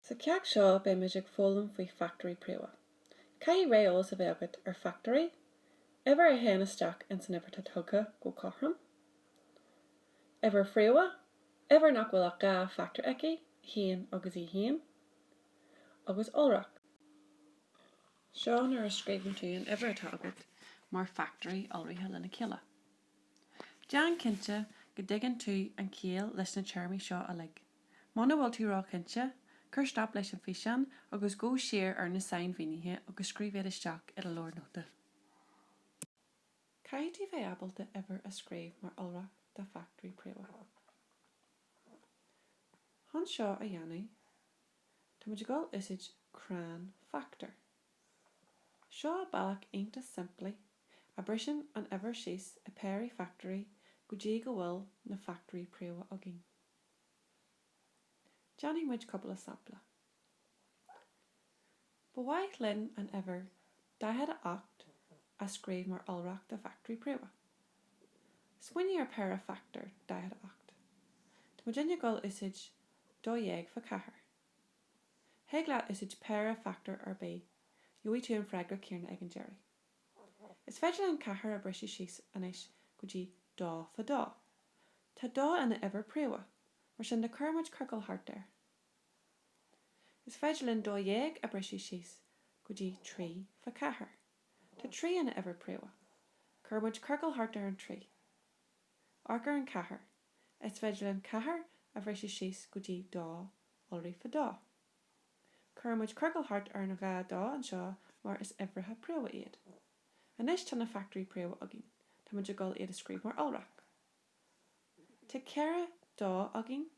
Sa cheacht seo beimid ag foghlaim faoi fachtóirí príomha. Caithfidh réamheolas a bheith agat ar fachtóirí, uimhir a théann isteach insan uimhir atá tugtha go cothrom, uimhir phríomha, uimhir nach bhfuil ach dhá fachtóir aici, 1 agus í féin, agus iolrach. Seo nuair a scríobhann tú an uimhir atá agat mar fachtóirí iolraithe lena chéile. Déan cinnte go dtuigeann tú an chiall leis na téarmaí seo uilig. Muna bhfuil tú ró-chinnte, cuir stop leis an fhíseán agus gabh siar ar na sainmhínithe agus scríobh iad isteach i do leabhar nóta. Caithfidh tú bheith ábalta uimhir a scríobh mar iolrach de fachtóirí príomha. Chun seo a dhéanamh, táimid ag dul úsáid crann fachtóir. Seo bealach iontach simplí a briseann an uimhir síos i péirí fachtóirí go dtí go bhfuil na fachtóirí príomha againn. Déanfaidh muid cúpla sampla. Ba mhaith linn an uimhir 48 a scríobh mar iolrach de fachtóirí príomha. Smaoinigh ar péire fachtóir 48. Tá muidne ag dul úsáid dó dhéag fá ceathair. Thig leat úsáid péire fachtóir ar bith, gheobhaidh tú an freagra céanna ag an deireadh. Is féidir linn ceathair a briseadh síos anois go dtí dó fá dó. Tá dó ina uimhir príomha, mar sin de cuirfimid ciorcal thart air. Is féidir linn dó dhéag a briseadh síos go dtí trí fá ceathair. Tá trí ina uimhir príomha. Cuirfimid ciorcal thart ar an trí. Amharc ar an ceathair. Is féidir linn ceathair a bhriseadh síos go dtí dó iolraithe fá dó. Cuireann muid ciorcal thart ar an dhá dó anseo mar is uimhreacha príomha iad. Anois tá na fachtóirí príomha againn. Tá muid ag dul iad a scríobh mar iolrach. Tá ceithre dó againn,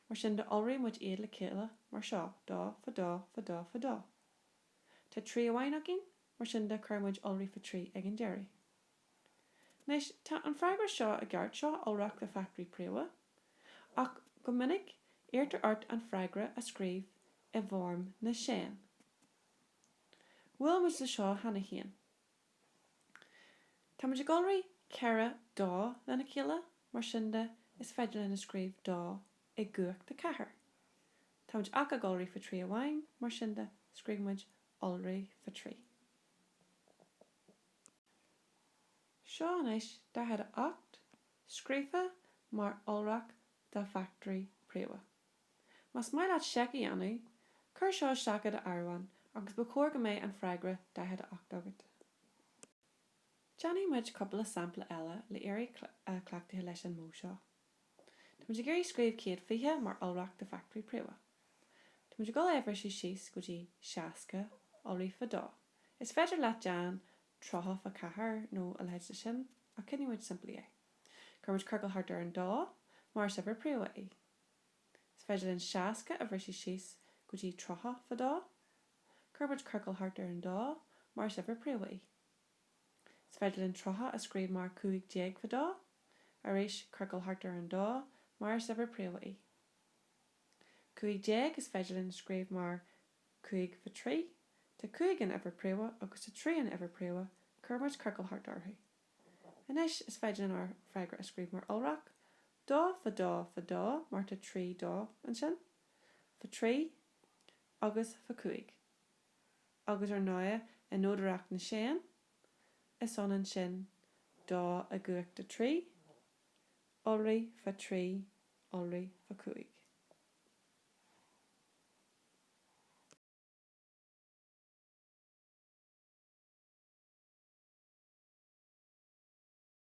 mar sin de iolraíonn muid iad le chéile mar seo, dó, fá dó, fá dó, fá dó. Tá trí amháin againn, mar sin de cuireann muid iolraithe fá trí ag an deireadh. Anois, tá an freagra seo i gceart, seo iolrach de fachtóirí príomha, ach go minic iarrtar ort an freagra a scríobh i bhfoirm na séan. Bhuail muid le seo cheana féin. Tá muid ag iolrú ceithre dó lena chéile, mar sin de, is féidir linn a scríobh dó i gcumhacht a ceathair. Tá muid ach ag iolrú fá trí amháin, mar sin de, scríobh muid iolraithe fá trí. Seo anois 48, scríofa mar iolrach de fachtóirí príomha. Más maith leat seic a dhéanamh, cuir seo isteach i do áireamhán agus ba chóir go mbeidh an freagra 48 agat. Déanfaidh muid cúpla sampla eile le éirí cleachtaithe leis an modh seo. Táimid ag iarraidh scríobh 120 mar iolrach de fachtóirí príomha. Táimid ag dul é a bhriseadh síos go dtí 60 iolraithe fá dó. Is féidir leat déan 30 fá ceathair nó a leithéid de sin ach coinneoidh muid simplí é. Cuirimid ciorcal thart ar an dó mar is uimhir príomha í. Is féidir linn 60 a bhriseadh síos go dtí 30 fá dó. Cuirimid ciorcal thart ar an dó mar is uimhir príomha í. Is féidir linn 30 a scríobh mar 15 fá dó, arís, ciorcal thart ar an dó, mar is uimhir príomha í. 15, is féidir linn a scríobh mar 5 fá trí, tá 5 ina uimhir príomha agus tá 3 ina uimhir príomha, cuirimid ciorcal thart orthu. Anois, is féidir linn ár bhfreagra a scríobh mar iolrach, dó fá dó fá dó, mar tá 3 dó ansin, fá trí agus fá cúig. agus ar ndóighe i nodaireacht na séan, is ionann sin dó i gcumhacht a trí, iolraithe fá trí, iolraithe fá cúig.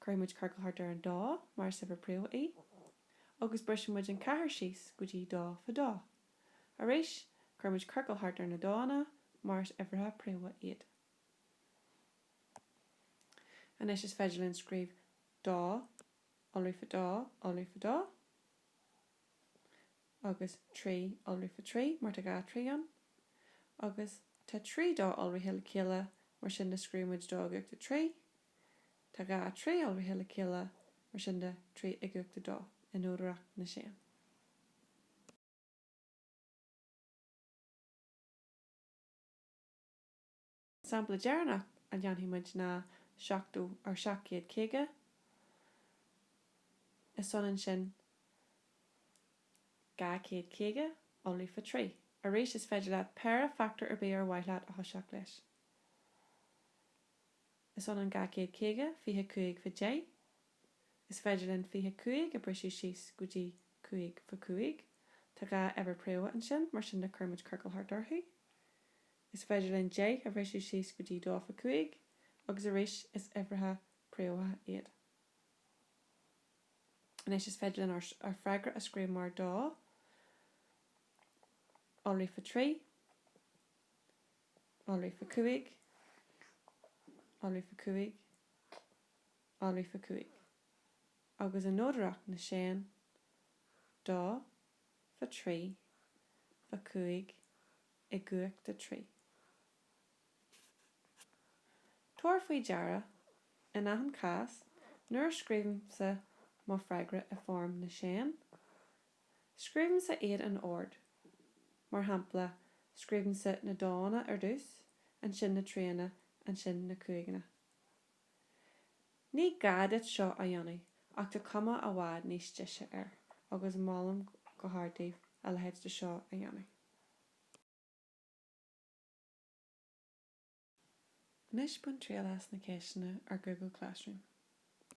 Cuirfidh muid ciorcal thart ar an dó mar is uimhir príomha í agus brisfidh muid an ceathair síos go dtí dó fá dó. Arís, cuirfidh muid ciorcal thart ar na dónna mar is uimhrithe príomha iad. Anois is féidir linn scríobh dó, iolraithe fá dó, iolraithe fá dó, agus trí, iolraithe fá trí, mar tá dhá trí ann, agus tá trí dó iolraithe le chéile mar sin de scríobhfaidh muid dó i gcumhacht a trí, Tá dhá thrí iolraithe le chéile, mar sin de, trí i gcumhacht a dó, i nodaireacht na séan. An sampla deireannach a dhéanfaidh muid ná 70 or 750, is ionann sin 250 iolraithe fá trí. Arís, is féidir leat péire fachtóir ar bith ar mhaith leat a thoiseacht leis. Is ionann dhá chéad caoga, fiche cúig fá deich. Is féidir linn fiche cúig a bhriseadh síos go dtí cúig fá cúig. Tá dhá uimhir príomha ansin, mar sin de cuirimid ciorcal thart orthu. Is féidir linn deich a bhriseadh síos go dtí dó fá cúig, agus arís is uimhrithe príomha iad. Anois is féidir linn ár freagra a scríobh mar dó iolraithe fá trí. iolraithe fá cúig iolraithe fá cúig iolraithe fá cúig agus i nodaireacht na séan dó fá trí fá cúig i gcumhacht a trí Tabhair faoi deara, in achan chás, nuair a scríobhaimse mo freagra i bhfoirm na séan, Scríobhaimse iad in ord. Mar shampla, scríobhaimse na dónna ar dtús, ansin na tríonna, ansin na cúigeanna. Ní gá duit seo a dhéanamh ach tá cuma i bhfad níos deise air agus molaim go hard daoibh a leithéid de seo a dhéanamh. Anois bain triail as na ceisteanna ar Google Classroom.